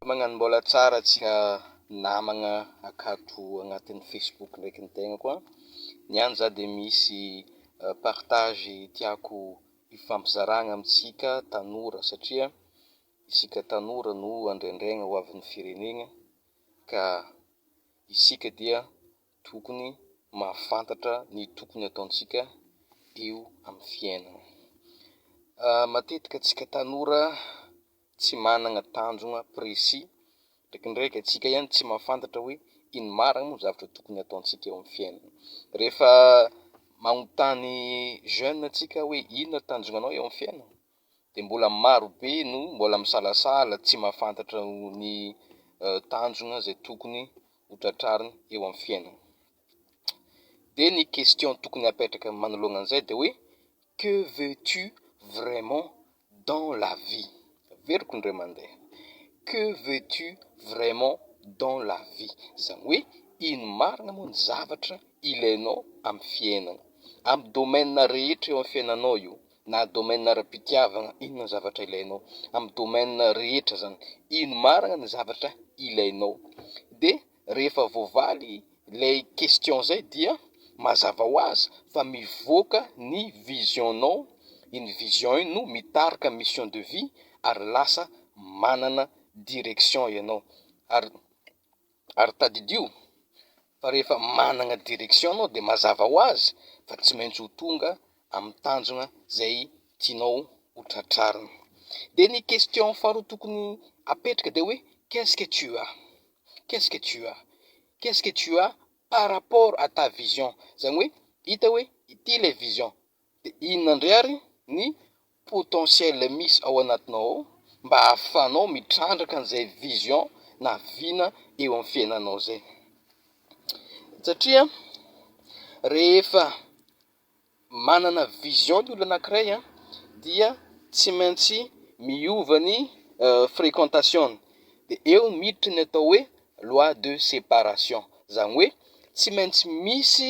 Magnano mbola tsara antsika namagna akato agnatin'ny Facebook ndraiky ny tegnako an! Ny any za dia misy partage tiako hifampizaragna amintsika tanora satria isika tanora no andraindraigna ho avin'ny firenegna ka isika dia Tokony mahafantatra ny tokony ataontsika eo amin'ny fiainana. Matetika antsika tanora tsy managna tanjogna précis, ndraikindraiky antsika ihany tsy mahafantatra hoe ino marigny moa zavatra tokony ataontsika eo amin'ny fiainana. Rehefa magnontany jeune antsika hoe inona tanjognanao eo amin'ny fiainana? dia mbola maro be no mbola misalasala tsy mahafantatra ny tanjona izay tokony ho tratrariny eo amin'ny fiainana. Dia ny question tokony hapetraka manoloana an'izay dia hoe que veux-tu vraiment dans la vie? Averiko indray mandeha, que veux-tu vraiment dans la vie? Izany hoe ino marina moa ny zavatra ilainao amin'ny fiainana, amin'ny domaine rehetra eo amin'ny fiainanao io, na domaine ara-pitiavagna inona ny zavatra ilainao amy domaine rehetra zany ino marigna ny zavatra ilainao de rehefa voavaly lay question zay dia mazava ho azy fa mivoaka ny vision nao iny vision iny no mitarika mission de vie ary lasa manana direction ianao ary Ary tadidio fa rehefa managna direction anao de mazava ho azy fa tsy maintsy ho tonga amin'ny tanjona zay tianao ho tratrarina. De ny question faharoa tokony apetraka de hoe qu'est-ce que tu as? Qu'est-ce que tu as? Qu'est-ce que tu as par rapport à ta vision? Zany hoe hita hoe ity ilay vision De inona ndray ary ny potentiel misy ao anatinao ao mba ahafahanao mitrandraka an'izay vision na vina eo amin'ny fiainanao zay? Satria rehefa manana vision ny olona anankiray an, dia tsy maintsy miova ny frequentation-ny, de eo miditra ny atao hoe loi de separation, zany hoe tsy maintsy misy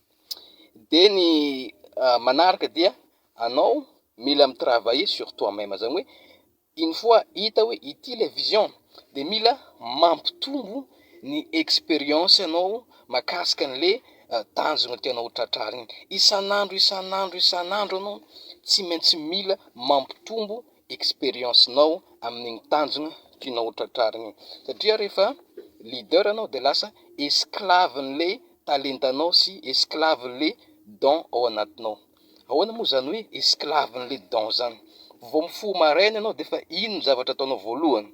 dia ny manaraka dia anao mila mi travailler sur toi meme zany hoe une fois hita hoe ity ilay vision dia mila mampitombo ny experience anao makasika anle tanjona tianao ho tratrary iny, isan'andro isan'andro isan'andro anao tsy maintsy mila mampitombo experience nao amin'iny tanjona tianao ho tratrarina iny satria rehefa leader anao dia lasa esclave anle. talentanao sy esclaven'le don ao anatinao. Ahoana moa zany hoe esclaven'le don zany? Vao mifoha maraina ianao dia efa iny no zavatra ataonao voalohany.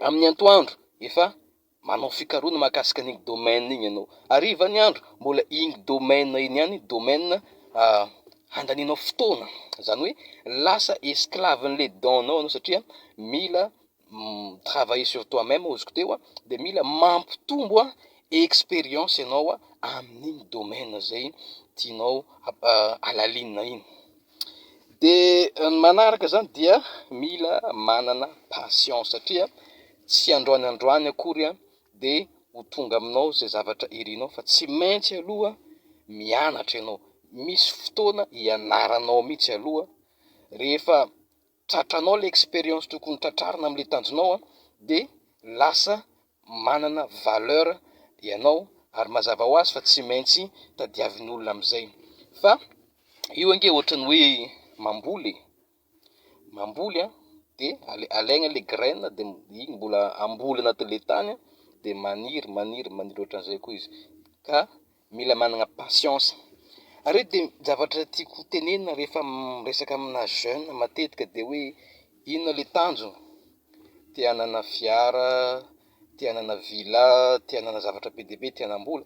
Amin'ny antoandro efa manao fikarohana mahakasika an'iny domaine iny ianao. Hariva ny andro mbola iny domaine iny ihany domaine handanianao fotoana. Zany hoe lasa esclaven'le don-nao ianao satria mila travailler sur toi meme azoko teo a de mila mampitombo experience ianao amin'iny domaine zay tianao halalinina iny de ny manaraka zany dia mila manana passion satria tsy androany androany akory a de ho tonga aminao zay zavatra irinao fa tsy maintsy aloha mianatra ianao misy fotoana ianaranao mihitsy aloha rehefa tratranao ilay expérience tokony ho tratrarina amin'ilay tanjonao an, de lasa manana valeur ianao ary mazava ho azy fa tsy maintsy tadiavin'olona amin'izay, fa io ange ohatran'ny hoe mamboly e, mamboly an de alaigna ilay graine de iny mbola amboly anatin'ilay tany an de maniry maniry maniry ohatran'izay koa izy ka. Mila managna patience. Ary de zavatra tiako ho tenenina rehefa miresaka amina jeune matetika de hoe inona le tanjona, te hanana fiara, te hanana villa, te hanana zavatra be dia be, te hanam-bola,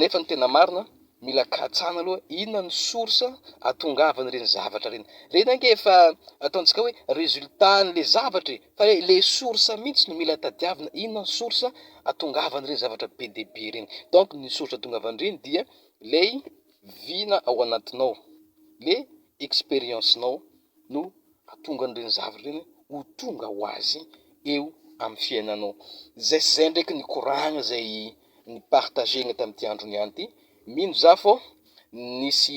nefa ny tena marina mila katsahina aloha inona no source ahatongavan'ireny zavatra ireny, ireny ange efa ataontsika hoe résultat an'le zavatra e, Fa le le source mintsy no mila tadiavina, inona ny source atongavan'ireny zavatra be dia be ireny? donc ny source atongavan'ireny dia lay vina ao anatinao, le experience nao no atonga an'ireny zavatra ireny ho tonga ho azy eo amin'ny fiainanao, zay sy zay ndraiky nikoragna zay ni-partager-na tamin'ity andro niany ity, mino za fô nisy